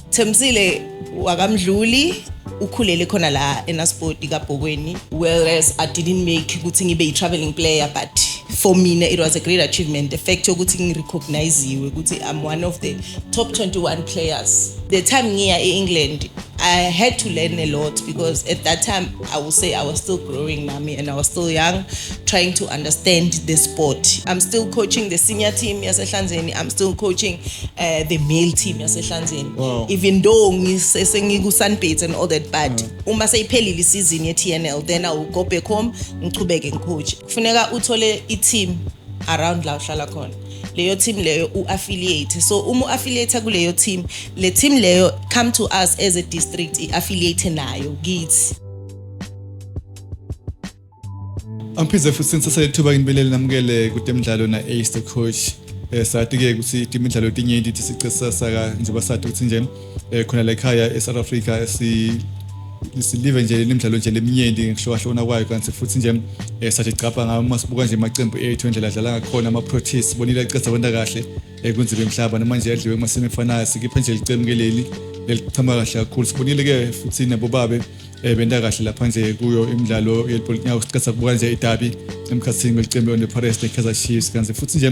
Themsile wakamdluli ukhulele khona la enaspoti kabhokweni whereas i didn't make ukuthi ngibe yi-traveling player but for mina it was a great achievement the fact yokuthi ngirecogniziwe ukuthi i'm one of the top 21 players the time ngiya e-england i had to learn a lot because at that time I will say I was still growing, Nami, and I was still young, trying to understand the sport. I'm still coaching the senior team, Yasehlanzeni. I'm still coaching uh, the male team, Yasehlanzeni. Wow. Even though ngisesengiku Sunbeds and all that, but mm. uma seyiphelile isizini ye-TNL, then I will go back home, ngichubeke ngicoach. Kufuneka uthole i-team around la uhlala khona. leyo team leyo u-affiliate so uma u-affiliate kuleyo team le team leyo come to us as a district i-affiliate nayo kithi Angiphize futhi sinsasele ithuba nginibelele namukele kutemidlalo na Ace the coach. Eh sati ke ukuthi imidlalo tinye ithi sicesasa ka njengoba sati ukuthi nje eh khona la ekhaya eSouth Africa si silive nje lemidlalo nje leminyenti ngihlokahlona kwayo kanti futhi nje eh, sathi gcabha ngayo uma sibuka nje amaqembu ethu endlela adlala ngakhona ama-proteas bonile aqeda kwenta kahle eh, kunzima emhlaba noma nje adliwe emasimi efanayo sikiphe nje licemu ke leli lelichama kahle kakhulu sibonile-ke futhi nabobabe um eh, benta kahle lapha nje kuyo imidlalo yelipolitinyawo siqeda kubuka nje idabi emkhathini kwelicembu leone-pares nekaizer chiefs kanti futhi nje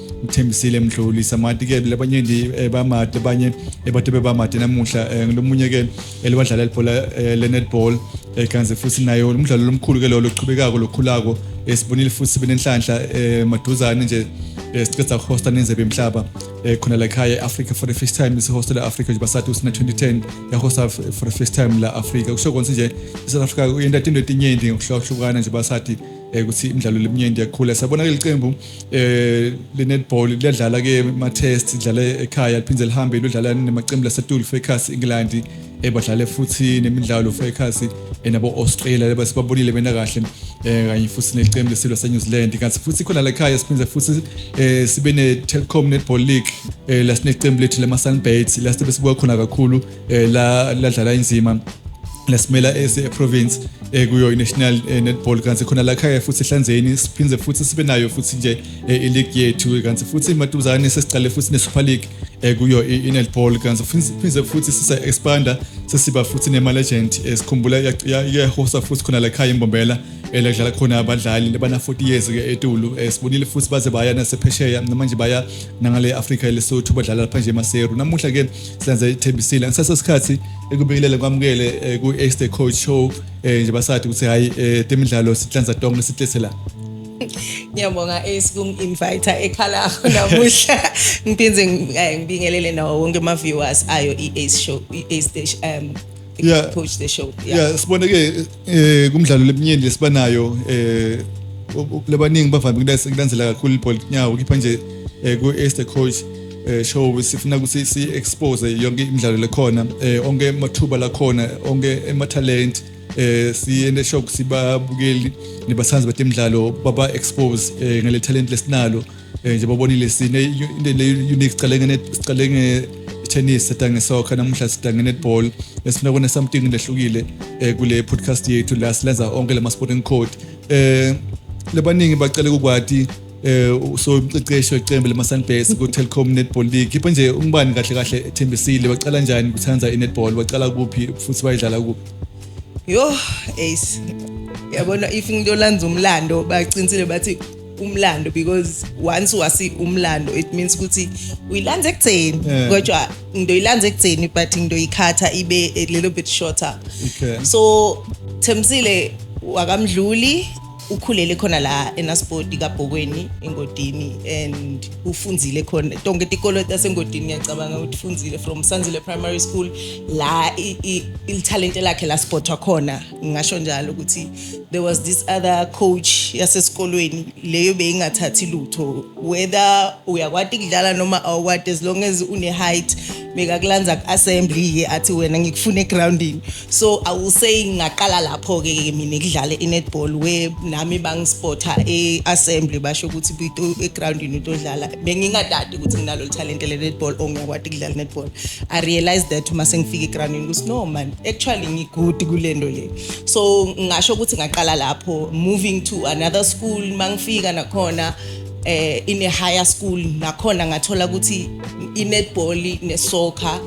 ngithembisile mdluli samati ke labanye ndi eh, bamati abanye eh, bathe bebamati namuhla eh, ngilomunye ke eliwadlala ibhola le-netball kanze futhi nayo umdlalo lomkhulu ke lolo oqhubekako lokhulako sibonile futhi sibe nenhlanhla maduzane nje siceda ukuhosta nenzebe emhlaba khona la ekhaya e-africa for the first time isihosta le-africa nje basathi usina 2010 yahosta for the first time la africa kusho konse nje i-south africa uyenta into etinyenti ngokuhlukahlukana nje basathi ukuthi imidlalo leminyenti yakhula sabona ke liqembu eh lenetball liyadlala ke ma test idlala ekhaya liphinde lihambe lodlala nemaqembu laseTul Fakers England ebadlale futhi nemidlalo Fakers enabo Australia labasibabonile bena kahle eh kanye futhi neqembu lesilwa se New Zealand kanti futhi khona la ekhaya siphinde futhi eh sibe ne Telkom Netball League eh lasineqembu lethu lama Sunbirds lasibesibuka khona kakhulu eh, la ladlala inzima lasimela ese-province eh, kuyo i-national eh, netball kanti khona lakhaya futhi ehlanzeni siphinde futhi sibe nayo futhi nje eh, iligi yethu kanti futhi maduzane sesiqale futhi ne-super league kuyo i-netball kanti phinde futhi sisa-expanda sesiba futhi nema-legend sikhumbula iyahosa futhi khona lakhaya imbombela lakudlala khona abadlali labana-40 years ke etulu sibonile futhi baze baya nasephesheya namanje baya nangale afrika lesotho badlala lapha nje emaseru namuhla ke senze ithembisile ngisasesikhathi ekubingelele kwamukele eh, ku Extra Coach Show eh, nje basathi ukuthi hayi eh, temidlalo sihlanza tonke sithethe la Ngiyabonga Ace kungi-invite ekhala akho namuhla. Ngiphinze ngibingelele nawo wonke ama viewers ayo i-Ace show i-Ace station um yeah. push the show yeah, yeah sibone ke eh kumdlalo lebunyeni lesibanayo eh lebaningi bavame kulandzela kakhulu ibhola kunyawo kipha nje eh ku Esther coach eh show sifuna ukuthi si expose yonke imidlalo lekhona eh onke amathuba lakhona onke ama talent eh siyende show sibabukeli nebasandzi batemidlalo baba expose eh ngale talent lesinalo eh nje bobonile sine into le unique sicalengene sicalenge tennis sidange soccer namuhla sidange netball esifuna kune something lehlukile eh kule podcast yethu la silenza onke lama sporting code eh lebaningi bacela kukwati eh so umqeqeshi weqembu lema Sunbase ku Telkom Netball League kipha nje umbani kahle kahle ethembisile baqala njani kuthanda i netball baqala kuphi futhi bayidlala kuphi yo ace yabona if ngiyolanza umlando baqinisile bathi umlando because once wasi umlando it means ukuthi uyilanza ekutheni yeah. kodwa ngidoyilanza ekutheni but ngidoyikhatha ibe a little bit shorter okay. so themsile wakamdluli ukhulele khona la enaspoti kabhokweni engodini and ufundzile khona tonke tikolo tasengodini ngiyacabanga ukuthi ufundzile from sanzile primary school la ilithalente lakhe laspotwa khona ngingasho njalo ukuthi there was this other coach yasesikolweni leyo beyingathathi lutho whether uyakwati kudlala noma awukwati as long as une-height bekakulanza ku-assembly-ke athi wena ngikufuna egroundini so i will say ngaqala lapho-ke mina kudlale i-netball where nami bangispotha e-assembly basho ukuthi egroundini utodlala bengingadadi ukuthi nginalo lithalente le-netball or ngiyakwati kudlala i-netball I realized that uma sengifika eGranini ukuthi no man actually ngigood kulento le so ngasho ukuthi ngaqala lapho moving to another school mangifika nakhona eh in a higher school nakhona ngathola ukuthi inetball nesoccer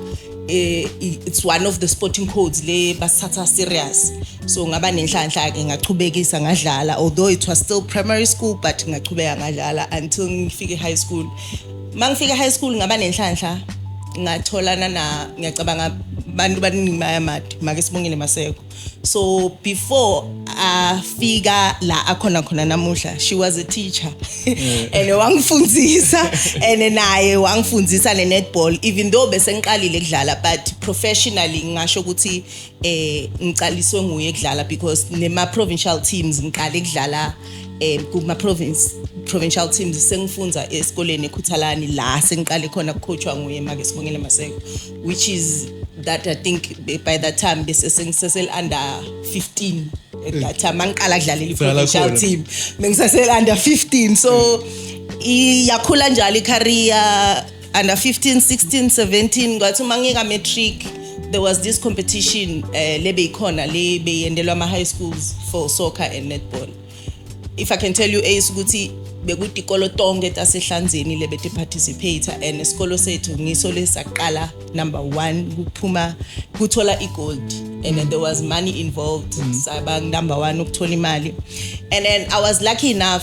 eh it's one of the sporting codes le basathatha serious so ngaba nenhlanhla ke ngachubekisa ngadlala although it was still primary school but ngachubeka ngadlala until ngifike high school uma ngifika high school ngaba nenhlanhla ngatholana na ngiyacabanga abantu baningi bayamadi make sibongile maseko so before afika la akhona khona namuhla she was a teacher mm. and wangifundisa and naye wangifundisa ne netball even though bese ngiqalile ukudlala but professionally ngasho ukuthi eh ngiqaliswe nguye ukudlala because nema provincial teams ngiqale ukudlala eh kuma province provincial teams sengifunda esikoleni ekhuthalani la sengiqale khona kucoachwa nguye make sibongele maseko which is that i think by that time bese sengisesel under 15 at that time angiqala kudlalela i provincial team mengisesel under 15 so iyakhula njalo i career under 15 16 17 kwathi uma ngika matric there was this competition uh, eh, lebeyikhona le beyendelwa ama high schools for soccer and netball if i can tell you ace ukuthi bekutikolo tonke tasehlanzeni lebete participate and isikolo sethu ngiso lesaqala number 1 kuphuma kuthola igold and then there was money involved mm. saba number 1 ukuthola imali and then i was lucky enough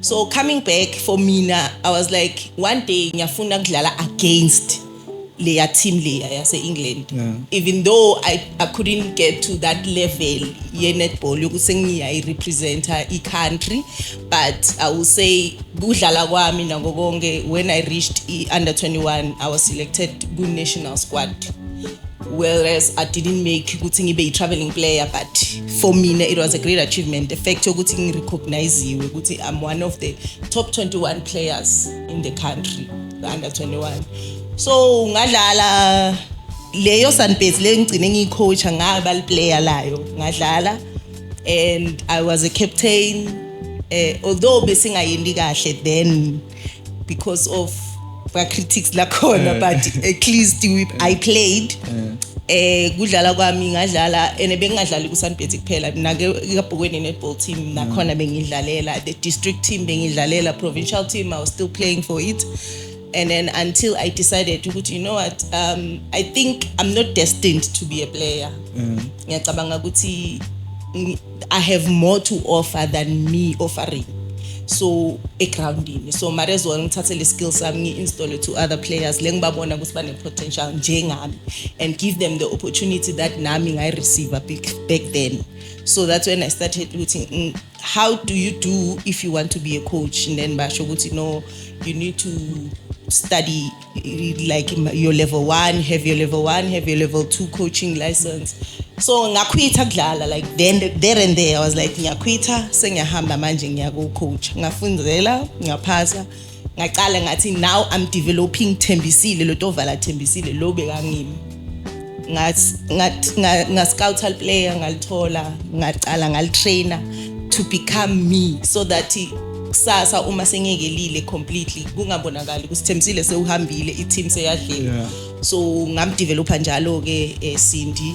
so coming back for mina i was like one day ngiyafuna ukudlala against leya team leya yase-england yeah. even though I, i couldn't get to that level ye-netball yokuthi sengiyayirepresenta i-country but i will say kudlala kwami nako konke when i reached i-under 21 i was selected ku-national squad whereas i didn't make ukuthi ngibe yi-traveling player but for mina it was a great achievement the fact yokuthi ngirecogniziwe ukuthi i'm one of the top 21 players in the country the under 21 so ngadlala leyo sunbase le ngigcine ngiyicoacha ngaba liplayer layo ngadlala and i was a captain uh, although besingayendi kahle then because of ba critics la khona eh. but at least we, i played eh. eh kudlala kwami ngadlala ene bengingadlali ku Sunbet kuphela mina ke kabhukweni netball team mm. nakhona bengidlalela the district team bengidlalela provincial team i was still playing for it and then until i decided ukuthi you know what um i think i'm not destined to be a player mm. ngiyacabanga ukuthi I have more to offer than me offering. so egroundini so mara as well ngithathe le skill sami ngi-installe to other players le ngibabona ukuthi bane-potential njengami and give them the opportunity that nami ngayi-receive back then so that's when i started ukuthi mm, how do you do if you want to be a coach and then basho ukuthi no you need to study like your level 1 have your level 1 have your level 2 coaching license so ngakhwitha kudlala like then there and there i was like ngiyakhwitha sengiyahamba manje ngiyakucoach ngafundzela ngaphasa ngaqala ngathi now i'm developing thembisile lo tovala thembisile lo bekangimi ngascoutal player ngalithola ngacala ngalitrainer to become me so that kusasa uma sengekelile completely kungabonakali ukuthi Thembisile sewuhambile i-team seyadlile so ngamdevelopa njalo ke eh, Cindy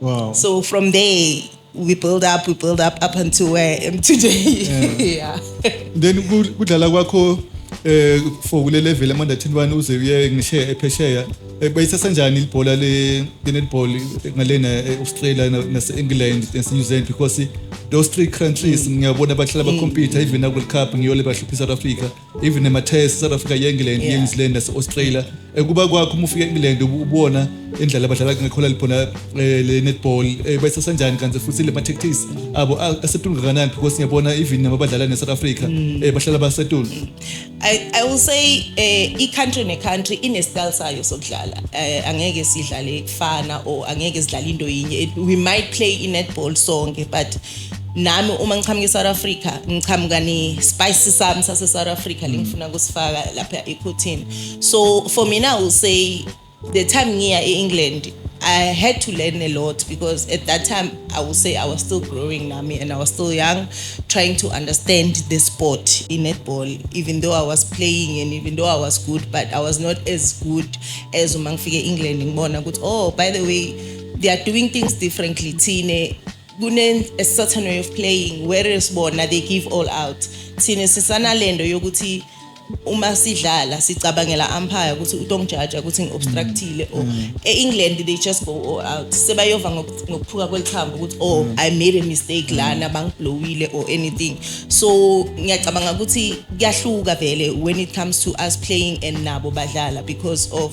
Wow. So from there we build up, we build up up until where I am today. Yeah. Then ku- kudlala kwakho eh for kule level ama under 21 uze uye ngishe ephesheya Eh, bayithatha njani ibhola le le netball ngalena eh, Australia na- nase England nase New Zealand because those three countries ngiyabona bahlala ba compete even na World Cup ngiyole bahlupha South Africa even emathaya south africa ye-england Yeah. ye-new zealand nase-australia um kuba kwakho uma ufika e-england ubu- ubona indlela abadlala ngakhona liphona um le netball um bayisasanjani kanti futhi le ma-tactics abo a- asetulu kangakanani because ngiyabona even nabo badlala ne-south africa um bahlala basetulu I, I will say eh i-country ne-country ine-style sayo sokudlala eh, angeke sidlale kufana or angeke sidlale into yinye It- we might play i-netball sonke but nami uma ngiqhamuka eSouth Africa ngiqhamuka ne spice sami sase South Africa mm. lengifuna kusifaka lapha ekhotini so for me now say the time ngiya eEngland I had to learn a lot because at that time I would say I was still growing nami and I was still young trying to understand the sport in netball even though I was playing and even though I was good but I was not as good as uma ngifike eEngland ngibona ukuthi oh by the way they are doing things differently thine kune a certain way of playing whereas bona they give all out thina sisanalendo yokuthi uma sidlala sicabangela umpire ukuthi utongijaja ukuthi ngiobstructile or mm. e-england they just go all out sebayova ngokuphuka kwelithambo ukuthi oh mm. i made a mistake lana mm. bangiblowile or anything so ngiyacabanga ukuthi kuyahluka vele when it comes to us playing and nabo badlala because of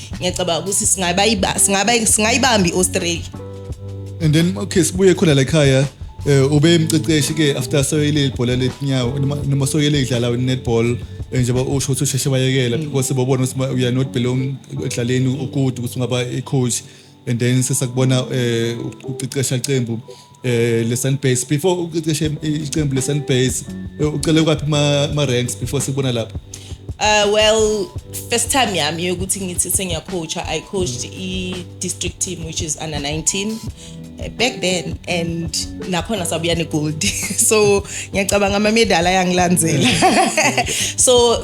ngiyacabanga ukuthi singaba iba singaba singayibambi iAustralia and then okay sibuye khona la ekhaya eh ube emqeqeshi ke after soyele ibhola letinyawo noma soyele idlala netball eh, njengoba usho ukuthi usheshe bayekela mm. because bobona ukuthi you are not belong ekudlaleni ukude ukuthi ungaba icoach and then sesakubona eh uqeqesha iqembu eh leSunbase before uqeqeshe iqembu leSunbase eh, ucele kwaphi ma, ma ranks before sikubona lapha Uh, well, first time yami yokuthi ngithi sengiyacoacha, I coached i district team which is under 19 uh, back then and nakhona sabuya ne gold. so ngiyacabanga ama medal ayangilandzela. so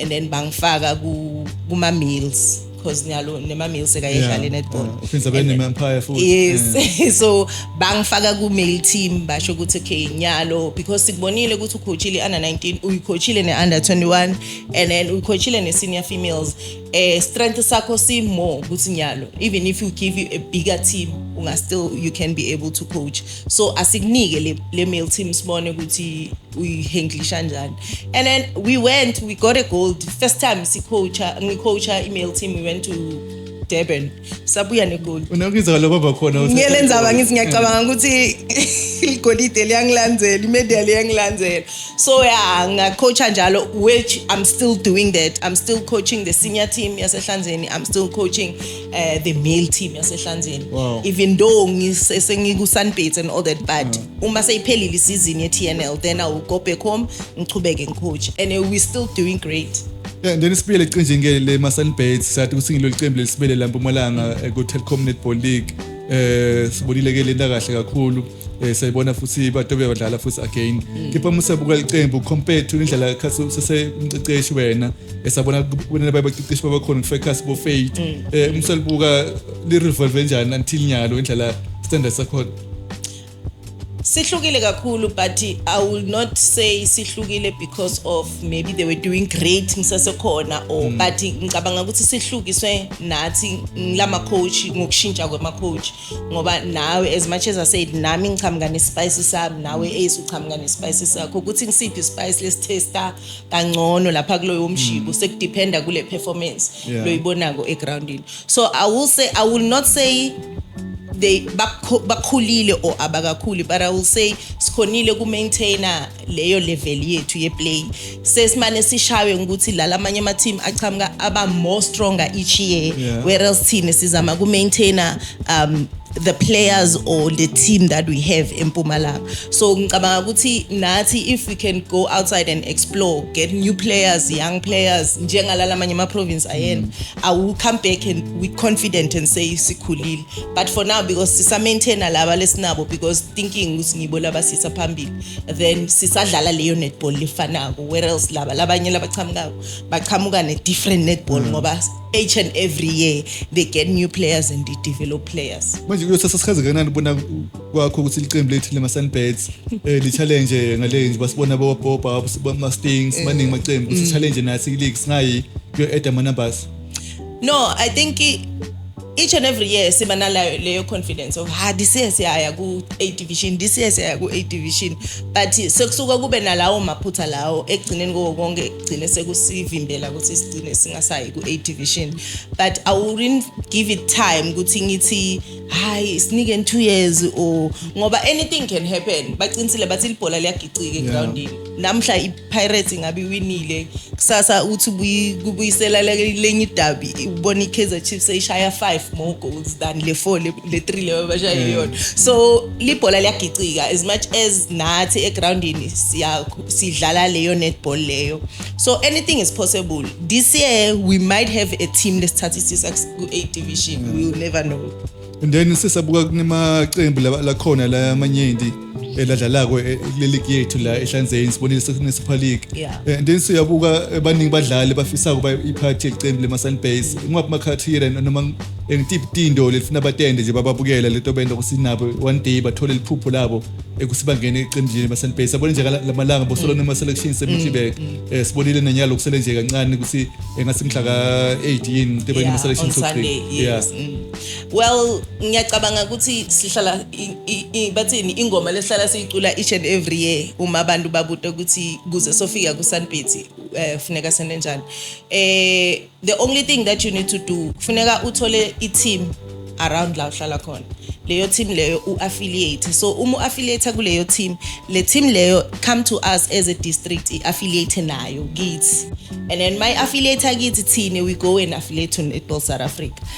and then bangifaka ku kuma meals because nyalo nema meals ekayedlala yeah. netball yeah. uphindza bene empire futhi yes yeah. so bangifaka ku male team basho ukuthi okay nyalo because sikubonile ukuthi ucoachile under 19 uyicoachile ne under 21 and then uyicoachile ne senior females eh strength sakho si more ukuthi nyalo even if you give you a bigger team unga still you can be able to coach so asikunike le, le male team sibone ukuthi uyihenglisha njani and then we went we got a gold first time sicoacha ngicoacha i-male team we went to durban sabuya negold unokizwa lo baba khona ngiyele ndzaba ngithi ngiyacabanga ukuthi igolide liyangilandzela imedia liyangilandzela so ya ngacoacha njalo which i'm still doing that i'm still coaching the senior team yasehlanzeni i'm still coaching uh, the male team yasehlanzeni wow. even though sengiku-sunbats and all that but mm. uma seyiphelile isizini ye-tnl then i will go back home ngichubeke ngicoach and uh, we're still doing great Yeah, then sibuyele eqinjengeni le masunbats sathi ukuthi ngilolu qembu lelisibele la mpumalanga eh, ku-telcom netball league eh sibonile ke lenta kahle kakhulu eh sayibona futhi batobe badlala futhi again mm. kepha uma usebuka iqembu compare to indlela kasi usese umqeqeshi wena esabona kubona babaqiqeshi babakhona kufekasi bo faith mm. eh uma usebuka li revolve njani until nyalo indlela standard sakho sihlukile kakhulu but i will not say sihlukile because of maybe they were doing great ngisasekhona or mm. but ngicabanga ukuthi sihlukiswe nathi ngilama coach ngokushintsha kwama coach ngoba nawe as much as i said nami ngichamuka nespice sami nawe mm. ace uchamuka nespice sakho ukuthi ngisiphi ispice lesitesta kangcono lapha kuloyo mshibo mm. sekudependa kule performance loyibonako egroundini so i will say i will not say they bakhulile or abakakhuli but i will say sikhonile ku maintainer leyo level yethu yeplay sesimane sishaywe ukuthi la lamanye ama team achamuka aba more stronger each year yeah. whereas thina sizama ku maintainer um the players or the team that we have in Pumalanga. So ngicabanga ukuthi nathi if we can go outside and explore, get new players, young players njengalala amanye ama province ayena, mm. I will come back and we confident and say sikhulile. but for now because sisamaintaina laba lesinabo because thinking ukuthi ngibo labasisa phambili then sisadlala leyo netball lefanako whereas laba labanye labaqhamukako baqhamuka ne-different netball mm. ngoba each and every year they get new players and they develop players manje kuyothatha sikhazi kanani ubona kwakho ukuthi liqembu lethu lema-sunbeds um eh, li-challenge ngale nje basibona bowapopa ama-stings eh. maningi amaqembu ukuthi mm. challenge nathi league singayi kuyo-eda ama-numbers no i think each and every year siba nalayo leyo confidence of ha this year siyaya ku A division this year siyaya ku A division but sekusuka kube nalawo maphutha lawo ekugcineni koko konke kugcine sekusivimbela ukuthi sigcine singasayi ku A division but I wouldn't give it time ukuthi ngithi hayi sinike in 2 years or ngoba anything can happen baqinisile bathi libhola liyagicika egroundini namhla ipirates ingabe iwinile kusasa uthi kubuyisela lenye idabi ubona i-kaizer chiefs eyishaya five more goals than le four le three leyo bashaye mm. yona so libhola liyagicika as much as nathi egrawundini sidlala leyo netball leyo so anything is possible this year we might have a team lesithathisisa ku-eight division we will never know and then sisabuka kunemaqembu la- lakhona la amanyenti eladlalako eh, kule ligi yethu la ehlanzeni sibonile sekunesuper league Yeah. Eh, and then siyabuka eh, baningi badlali bafisa ukuba iphathi yelicembu lemasunbase ngingaphi makhathira noma eh, ngitiphi tindo lelifuna batende nje bababukela lento benda kusinabo one day bathole liphupho labo ekuthi bangene eqenjini lemasunbase abone nje kala- lamalanga bosolo nema-selection semitibek um sibonile nanyalo kusele nje kancane ukuthi engathi mhla ka-18 into Yeah, ebenemaselection on Sunday, yes, mm. well ngiyacabanga ukuthi sihlala bathini ingoma lesihlala siyicula each and every year uma abantu babuta ukuthi kuze sofika kusanbhithi um eh, funeka sene njani um the only thing that you need to do funeka uthole i-team around la uhlala khona leyo team leyo u-affiliate so uma u-affiliate kuleyo team le team leyo come to us as a district i-affiliate nayo kithi and then my affiliate kithi thina we go and affiliate to netball south africa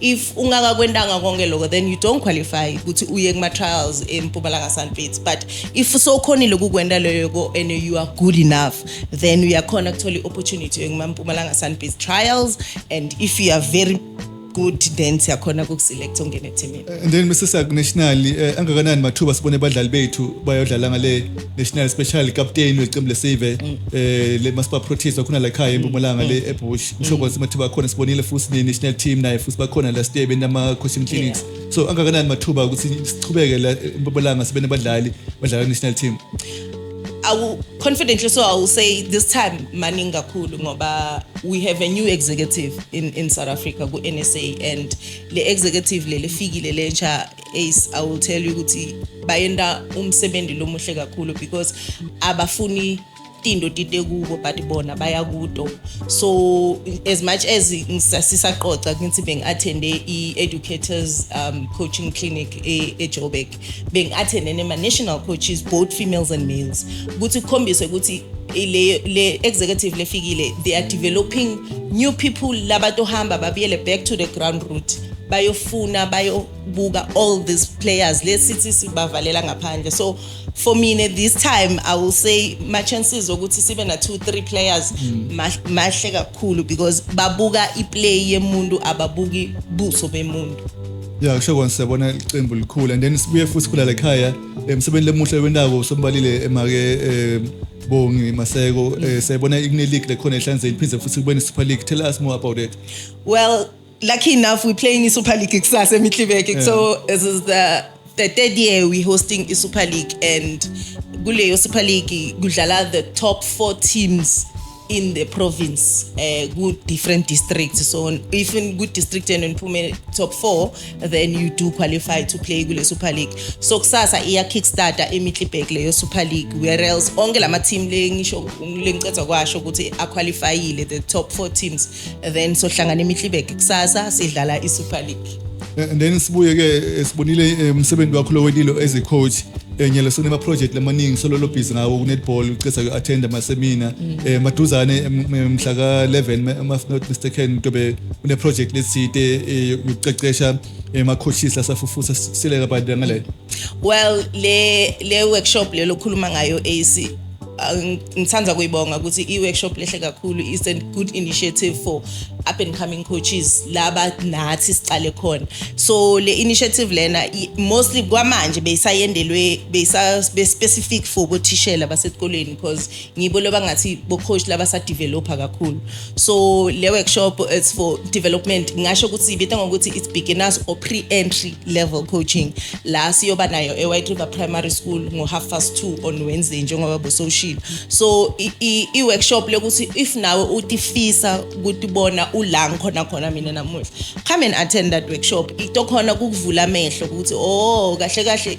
if ungakakwentanga konke lokho then you don't qualify ukuthi uye kuma-trials empumalanga sunfits but if sowukhonile kukwenta leyoko and you are good enough then uyakhona kuthola i-opportunity yokumampumalanga sunfits trials and if you are very good then siyakhona kukuselect ongene ethimini and then Mr. Sak national eh, angakanani mathuba sibone abadlali bethu bayodlala ngale national special captain weqembu lesave mm. eh le masiba protest wakhona la ekhaya empumalanga le mm. ebush mm. ngisho kwazi mathuba khona sibonile futhi ne national team naye futhi bakhona last year benama coaching clinics so angakanani mathuba ukuthi sichubeke la empumalanga sibe nabadlali badlala national team awu confidently so i will say this time maningi kakhulu ngoba we have a new executive in in south africa ku-nsa and le executive le lefikile lentsha ace i will tell you ukuthi bayenda umsebenzi lomuhle kakhulu because abafuni tinto tite kubo but bona baya kuto so as much as sisaqoqa ngithi bengi-athende i-educators um, coaching clinic e-joburg bengi-athendene ma-national coaches both females and males ukuthi kukhombiswe ukuthi le, le executive lefikile they are developing new people labatohamba babuyele back to the ground route bayofuna bayobuka all these players lesithi sibavalela ngaphandle so for mina this time i will say my chances ukuthi sibe na 2 3 players mm. mahle kakhulu because babuka iplay yemuntu ababuki buso bemuntu ya kusho kona siyabona iqembu likhula and then sibuye futhi sikhula la ekhaya emsebenzini lemuhle wendako sombalile emake um bongi maseko um siyayibona ikune-league lekhona ehlanzeni phinde futhi kube ne-super league tell us more about it Well, lucky enough, we're playing in Super League Kusasa Mitlibeke. So this is the the third year we're hosting the Super League, and Guleyo Super League Gujala, the top four teams in the province uh, ku different districts so if in good district and niphume top 4 then you do qualify to play kule super league so kusasa iya kickstarter emitlibek leyo super league where else onke lama team le ngisho lengicetha kwasho ukuthi aqualifyile the top 4 teams then sohlangana imihlibeke kusasa sidlala i-super league eh, and then sibuye ke eh, sibonile eh, umsebenzi wakho lowelilo as a coach enye lesona ama project lamaningi sololo busy ngawo ku netball ucesa ku attend ama seminar mm. eh maduzane mhla ka 11 ama not mistaken tobe une project lesite ucecesha ema coaches lasafufusa sileka badangale well le le workshop lelo khuluma ngayo AC Ah, ngithanda kuyibonga ukuthi i-workshop lehle kakhulu is a good initiative for up and coming coaches laba nathi siqale khona so le initiative lena mostly kwamanje beyisayendelwe beyisa-specific for bothishela basesikoleni because ngibo loba ngathi bocoach laba sadevelopha kakhulu so le workshop it's for development ngingasho ukuthi ibita ngokuthi it's beginners or pre-entry level coaching la siyoba nayo e-white river primary school ngo-half past two on wednesday njengoba busoshilo so i-workshop lokuthi if nawe utifisa ukuthi bona ula ngikhona khona mina namuhla come and attend that workshop itokhona kukuvula amehlo ukuthi o oh, kahle kahle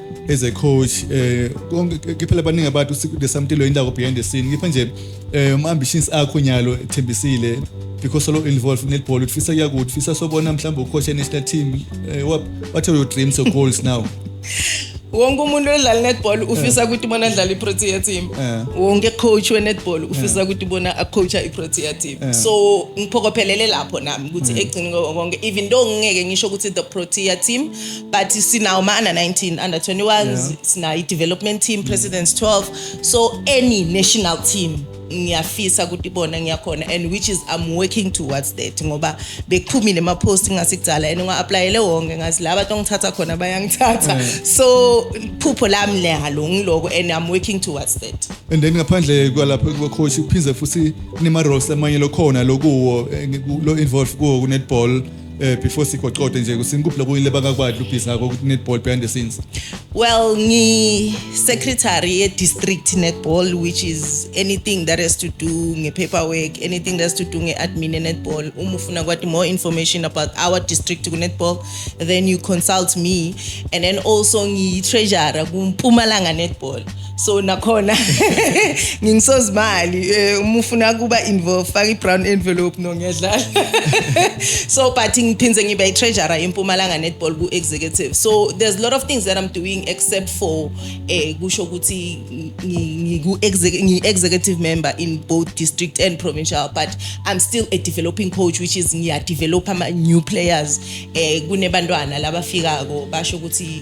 as a coach eh konke ke phela baningi abantu there's something lo indawo behind the scene ngipha nje eh ama ambitions akho nyalo ethembisile because solo involved netball ufisa yakuthi ufisa sobona mhlawumbe ucoach national team eh, what what are your dreams or goals now wonke umuntu odlala netball ufisa eh. ukuthi bona adlale iprotea team eh. wonke coach wenetball ufisa eh. ukuthi bona acoacha iprotea team so ngiphokophelele lapho nami ukuthi egcini konke even though ngingeke ngisho ukuthi the protea team but sinawo ma-under 19 under 21 yeah. sinayo i-development team mm. presidents 12 so any national team ngiyafisa ukuthi ibona ngiyakhona and which is i'm working towards that ngoba bekuphumile ama-post ngasikudala and ngiwa-aplayele wonke ngazi la bantu ongithatha khona bayangithatha mm. so phupho lami lehalo ngiloko and i'm working towards that and then ngaphandle kwalapho kubacoach kuphinde futhi kunema-roles amanye lokhona lokuwo eh, lo-involve kuwo kunetball eh before sigoqode nje kusinkuphi lokunye lebakakwadla ubhiza ko netball behind the scenes well ngi secretary ye district netball which is anything that has to do nge paperwork anything that has to do nge admin netball uma ufuna kwathi more information about our district ku netball then you consult me and then also ngi treasurer ku Mpumalanga netball so nakhona ngingisozimali eh, uma ufuna kuba involved faka i-brown envelope no ngiyadlala so but ngiphinde ngibe i-treasurer yempumalanga netball ku-executive so there's a lot of things that i'm doing except for eh kusho ukuthi ngiku-executive member in both district and provincial but i'm still a developing coach which is ngiyadevelop ama-new players eh kunebantwana labafikako basho ukuthi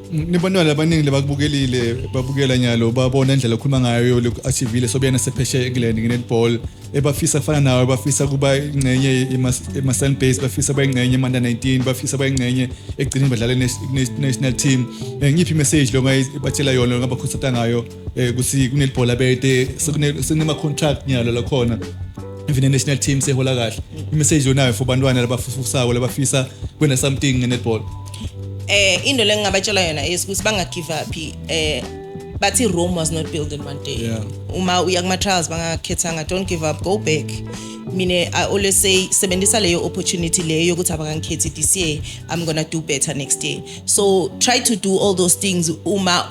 nibonile abaningi lebakubukelile babukela nyalo babona indlela okhuluma ngayo le-atv le sobuyena sepheshe england nge-netball ebafisa kufana nawe bafisa kuba ingxenye ema-sun base bafisa kuba ingxenye emanda 19 bafisa kuba ingxenye ekugcineni badlale national team um ngiphi imessage lo batshela yona ngabakhuthatha ngayo eh kuthi kunelibhola bete sekunema contract nyalo la khona even the national team sehola kahle imessage yonayo for bantwana labafufusako labafisa kwena something ngenetball eh into lengingabatshela yona is ukuthi banga give up eh bathi Rome was not built in one day yeah. uma uya kuma trials bangakhethanga don't give up go back mina i always say sebenzisa leyo opportunity leyo yokuthi abangangikhethi this year i'm going to do better next year so try to do all those things uma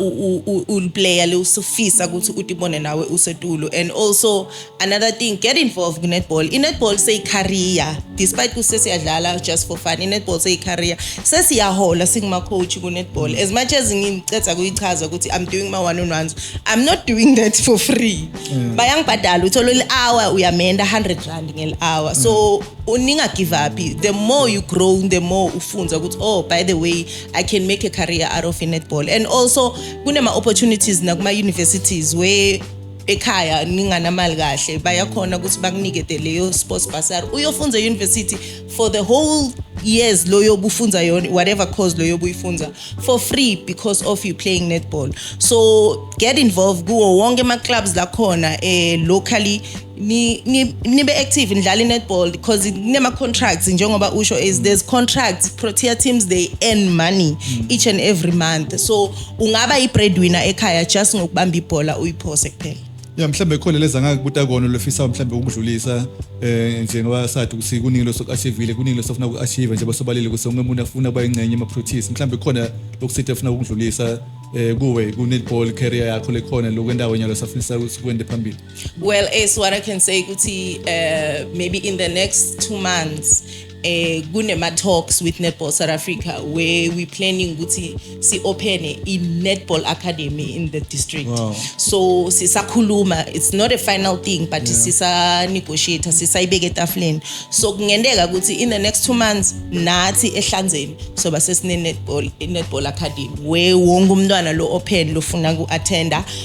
uliplayer le usufisa ukuthi utibone nawe usetulo and also another thing get involved kunetball inetball seyicareer despite kusesiyadlala just for fun inetball seyicareer sesiyahola singuma-coach kunetball as much as ngiceda kuyichaza ukuthi i'm doing my one on ones i'm not doing that for free mm. bayangibhadala uthole li-hour uyamenda 100 rand ngeli-hour so mm. uninga give up the more you grow the more ufunza ukuthi oh by the way i can make a career out of netball and also kunema opportunities nakuma universities where ekhaya ninganamali kahle bayakhona ukuthi bakunike de leyo sports bursary uyofunza university for the whole years loyo obufunza yona whatever cause loyo obuyifunza for free because of you playing netball so get involved kuwo wonke ama clubs lakhona eh locally ni ni nibe active nidlala netball because kunema contracts njengoba usho is there's contracts Protea teams they earn money mm. each and every month so ungaba i breadwinner ekhaya just ngokubamba ibhola uyiphose kuphela ya mhlambe khona leza ngakubuta kona lofisa mhlambe ukudlulisa eh nje ngoba sathi ukuthi kuningi losokuachievile kuningi losofuna ukuachieve nje basobalile ukuthi onke umuntu afuna ukuba ingcenye ema proteas mhlambe khona lokusithe afuna ukudlulisa eh kuwe ku netball career yakho lekhona lokwendawo nyalo safisa ukuthi kwende phambili Well, as what I can say ukuthi uh, maybe in the next two months eh kunema talks with Netball South Africa where we planning ukuthi si open a netball academy in the district wow. so sisakhuluma it's not a final thing but yeah. sisa negotiate sisayibeke etafuleni so kungenteka ukuthi in the next two months nathi ehlanzeni so basesine netball netball academy where wonke umntwana lo open lofuna ku attender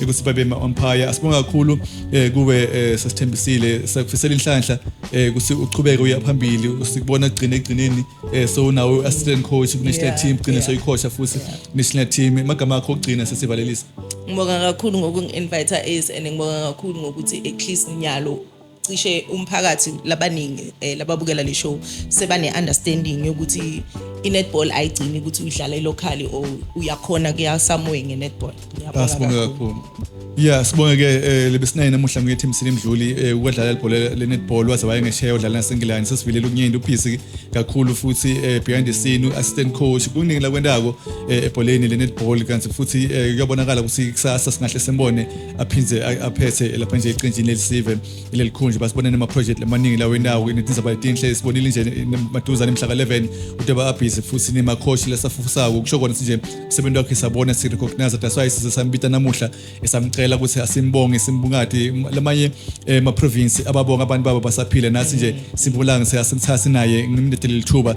ekuSuperbe Empire asibonga kakhulu eh, kuwe eh, sasithembisile sakufisela inhlanhla eh, kuthi uqhubeke uya phambili sikubona gcine egcineni eh, so nawe assistant coach national yeah, team gcine yeah. soyikhosha futhi yeah. national team emagama akho ogcina sesivalelisa ngibonga kakhulu ngokungi-invite as and ngibonga kakhulu ngokuthi at least nyalo cishe umphakathi labaningi eh, lababukela le show sebane-understanding yokuthi i-netball ayigcini ukuthi uyidlala ilocally or uyakhona kuya somewhere nge-netball Ngiyabonga asibonge kakhulu. kakhulu ya sibonge ke eh, lebesinaye namuhla nguyethi msini mdluli eh, ukwadlala ibhola le-netball waze wayengesheya udlala nasengilani sesivilele ukunyenda ubhizi kakhulu futhi eh, behind the scene u-assistant coach kuningi lakwentako eh, ebholeni le-netball kanti futhi eh, kuyabonakala ukuthi kusasa singahle simbone aphinde aphethe lapha nje eqenjini lelisive lelikhundla basibonene ama-project amaningi lawo endawo kunetindaba letinhle sibonile nje maduzane mhla ka-11 udaba abhizi futhi nemakhoshi lesafufusako kusho kona sinje umsebenzi wakhe sabona sirecognize that's why size sambita namuhla esamcela ukuthi asimbonge simbungadi lamanye eh, ma-province ababonga abantu babo basaphile nathi nje simbulanga seyasimthatha sinaye ngimlethe leli thuba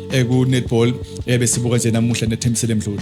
eh, ku netball eh, besibuka nje namuhla nethembisele mdluli